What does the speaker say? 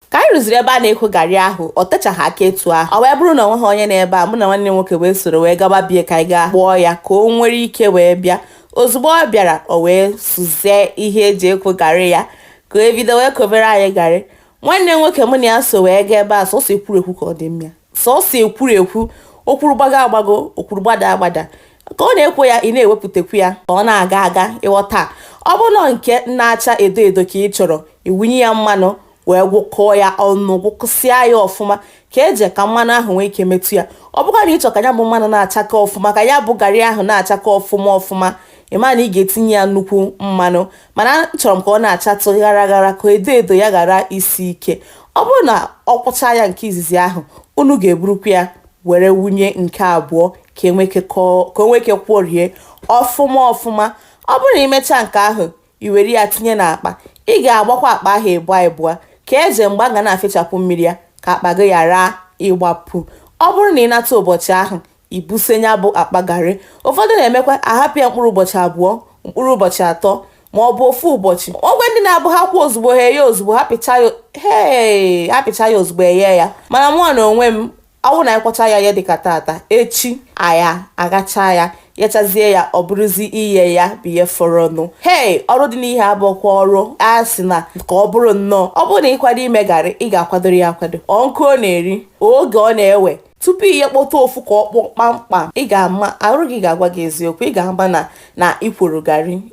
ka anyị ruziri ebe a na-ekwo garị ahụ o techaghị aka etu ahụ o wee bụrụ na o nweghị onye n'ebe a mụ na nwanne nwoke wee soro wee gaba be ya ka anyị gaa kpọọ ya ka o nwere ike wee bịa ozugbo ọ bịara o wee sụzie ihe e ji ekwo garị ya ka o bido wee kwobere anyị garị nwanne nwoke mụ na ya so wee gaa ebe a sọsọ ekwurekwu ka ọ dị mma Sọọsọ ekwurekwu, o kwuru gbagoo agbagoo, o kwuru gbadaa agbadaa. Ka ọ na-ekwo ya, ị na-ewepụtakwu ya ka ọ na-aga aga, ị ghọta. Ọ bụrụ na ọ nke na-acha edo edo ka ị chọrọ, ị wụnye ya mmanụ wee gwọkọọ ya ọnụ, gwọkọsịa ya ọfụma ka e je ka mmanụ ahụ nwee ike metụ ya. Ọ bụkwa na ị chọrọ ka ya bụ mmanụ na-achake ọfụma, ka ya bụ garị ahụ na-achake ọfụma ọfụma, ị ma na ị ga-etinye ya nnukwu mmanụ. mana achọrọ m ka ọ na-achatụ ghara ghara ka edo edo ya ghara isi ike ọ bụrụ na ọ kwọcha ya nke izizi ahụ unu ga-eburukwa ya were wụnye nke abụọ ka e nwee ike kwọrie ọfụma ọfụma ọ bụrụ na i mechaa nke ahụ i were ya tinye n'akpa ị ga-agbakwa akpa ahụ ịbụọ ịbụọ ka eze mgbe a ga na-afịchapụ mmiri ya ka akpa gị ghara ịgbapụ ọ bụrụ na ị nata ụbọchị ahụ i buse ya bụ akpa garị. Ụfọdụ na-emekwa a hapụ ya mkpụrụ ụbọchị abụọ, mkpụrụ ụbọchị atọ maọbụ ofu ụbọchị. O nwee ndị na-abụ ha kwọọ ozugbo, ha eyee ozugbo, ha pịchaa ya hee! ha pịchaa ya ozugbo eyee ya. Mana mụnwa na onwe m, ọ bụrụ na anyị kwọchaa ya ihe dịka taata, echi anyị aghachaa ya, yọchazie ya ọ bụrụzi iye ya bụ ihe fọrọnụ. Hei! Ọrụ dị n'ihe a bụkwa ọrụ a sị na ka ọ bụrụ nnọọ. Ọ bụrụ na ị kwado ime garị, ị ga-akwadoro ya akwado. Ọ nkụ ọ na-eri, oge ọ na-ewe, tupu i yekpọta ofu ka ọ kpọọ kpamkpam, ị ga-ama, arụ gị ga-agwa gị eziokwu, ị ga-ama na na i kworo garị.